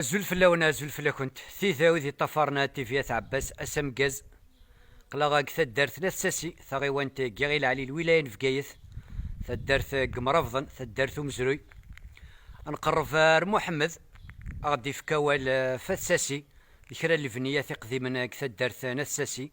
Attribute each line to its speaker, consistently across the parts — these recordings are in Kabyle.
Speaker 1: Azul fell-awen, azul fell-akent, tid id yeṭṭafaren At TV At Ɛebbas, ass ameggaz, qqleɣ deg taddart n At Sasi, taɣiwant n Yiɣil Ɛli n lwilaya n Bgayet, taddart n Yemrabḍen, taddart n umezruy. Ad nqerreb ar Muḥemmed, ad aɣ-d-ifk awal ɣef At Sasi d kra n lebniyat iqdimen deg taddart n At Sasi.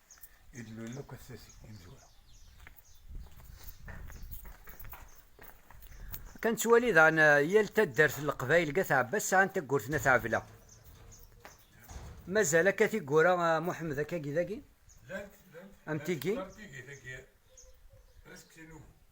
Speaker 2: i d-lulen akk at tati imezwura.
Speaker 1: Kan ttwali daɣen eh, yal taddart n leqbayel deg At Ɛebbas sɛan taggurt n At Ɛebla. Mazal akka tiggura eh, Muḥemmed akkagi dagi?
Speaker 2: Am tigi? Am
Speaker 1: tigi tagi.
Speaker 2: Asekti n ugu.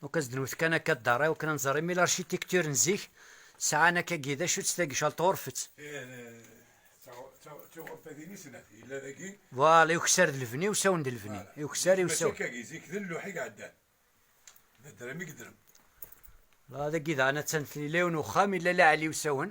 Speaker 2: Donc as
Speaker 1: d-nwet kan akka ddaṛ i wakken ad nẓer imi l'architecture n zik sɛan akka gi d acu-tt tagi cal tɣurfet. Tiɣurfadin i snat yella dagi. Voilà i ukessar d levni, usawen d levni. I ukessar i usawen. Mačči akka gi zik d lluḥ i
Speaker 2: iɛeddan. D ddrem i yeddrem. La
Speaker 1: dagi daɣen attan yella yiwen uxxam yella la ɛli usawen.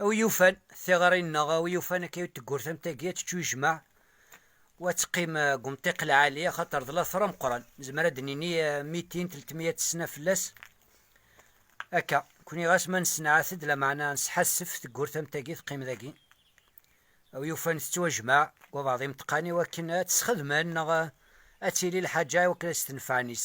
Speaker 1: A wi yufan tiɣri neɣ a wi yufan akka i teggurt am tagi ad tečču ijmaɛ u ad teqqim deg umṭiq lɛali axaṭer d later ameqqran, nezmer ad d-nini mitin, tlettmiya d tesna fell-as akka, nekkni ɣas ma nessenɛat-d lameɛna nesḥassef teggurt am tagi teqqim dagi a wi yufan tettwajmaɛ deg wabeɛḍ imeṭṭqan i wakken ad tt-sxedmen neɣ ad tili lḥaǧa i wakken ad s-tenfeɛ nis.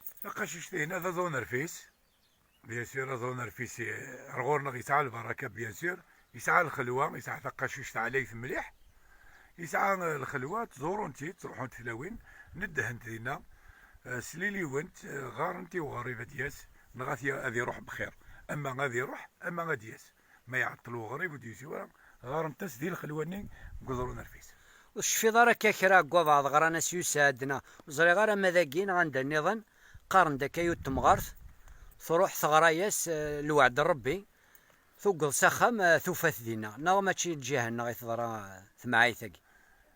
Speaker 2: Taqacict-ihin ad aḍu nerfis, bien sûr, ad aḍu nerfis ar ɣur-neɣ yesɛa lbaraka bien sûr, yesɛa lxelwa, yesɛa taqacict ɛlayet mliḥ, yesɛa lxelwa, ttẓurun-tt-id, ttruḥunt tlawin, neddhent dinna, sliliwent, ɣɣarent i uɣerrib ad d-yas, neɣ ad iruḥ bxir, ama ad iruḥ ama ad d-yas. ma iɛeṭṭel uɣrib ur d-yusi wara, ɣarent-as di lxelwa-nni deg uḍru n rfis. Ur tecfiḍ ara
Speaker 1: akka kra deg wabeɛḍ ɣran-as Yusaɛd neɣ ur ẓriɣ ara ma dagi neɣ anda nniḍen, qqaren-d akka yut temɣart, truḥ teɣra-yas lweɛd n Rebbi, tuggeḍ s axxam tufa-t dinna, neɣ mačči lǧiha-nneɣ i teḍra temɛayt-agi?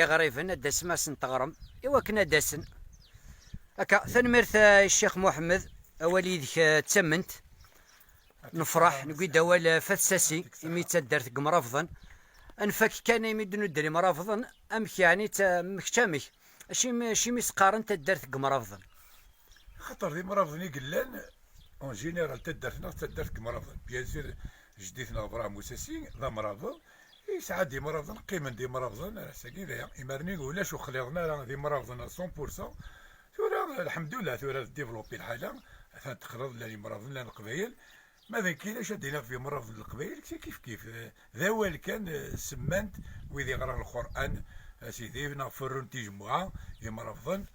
Speaker 1: Iɣriben ad d-tasem ad asen-teɣrem i wakken ad d-asen. Akka, tanemmirt eh, i Ccix Muḥemmed, awal yid-k eh, d tament. Nefṛeḥ, newwi-d awal eh, Fat Sasi, imi d taddart n yemṛabḍen. Ad nfak kan imi d-nudder imṛabḍen, amek yeɛni d ta- mm, kečč amek? Acimi, acimi i s-qqaren taddart n yemṛabḍen? Axaṭer
Speaker 2: d imṛabḍen i yellan en général taddart-nneɣ d taddart n yemṛabḍen. Bien sûr, jeddi-tneɣ Brahim Oussassi d amṛabḍ, Yesɛa-d imrabḍen, qqimen-d imrabḍen ar ass-agi d aya, imarni ulac ur xliḍen ara d imrabḍen a cent pour cent, tura lḥemdullah tura d développé lḥala, atan texleḍ llan imrabḍen llan leqbayel, ma d nekk ilac ad d-iniɣ ɣef imrabḍen n leqbayel kkti kif kif, d awal kan semman-t wid iɣran lqur'an a sidi neɣ ferrun tijemmuɛa imrabḍen,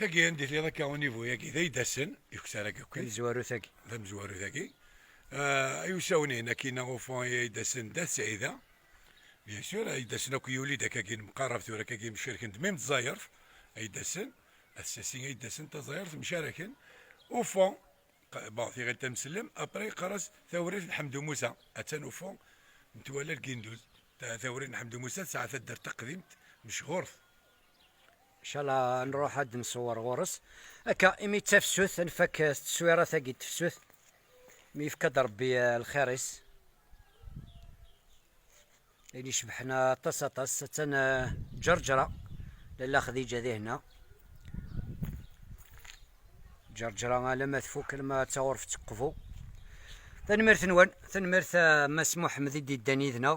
Speaker 2: Tagi anda i tliḍ akka univu-yagi, d aydasen, iktar akka akkin. Tamezwarut-agi.
Speaker 1: Tamezwarut-agi.
Speaker 2: Ay usawen-ihin akkin awufan ay aydasen d at Sɛida. Bien sûr, aydasen akk yuli-d akka akkin mqarab tura akka akkin mcariken-d mim tẓayert. Aydasen, at Sasi aydasen taẓayert mcaraken. Ufan, bon, tiɣilt amsellem, après yeqqar-as tawrirt n Ḥemdu Musa. Attan ufan metwal Alginduz. Tawrirt n Ḥemdu Musa tesɛa taddart taqdimt mechurt.
Speaker 1: inchallah nruḥ ad nṣewwer ɣur-s akka imi d tafsut nfak s teswirat agi d tefsut mi yefka-d rebbi eh, lxir-is ayen icebḥen aṭas aṭas attan eh, ǧerǧra lalla xdija di hna ǧerǧra alama tfuk alama d taɣurfet teqbu tanemmirt nwen tanemmirt eh, mass muḥemmed i d-iddan yid-neɣ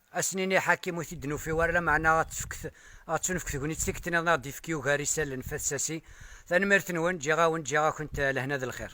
Speaker 1: Ad s-nini Ḥakim ur t-id-nufi wara, lameɛna ad ɣ-d-tunefk tegnit tikti-nniḍen ad ɣ-d-yefk Yugar n yisallen f at Sasi. Tanemmirt-nwen, ǧǧiɣ-awen, ǧǧiɣ-akent lehna d lxir.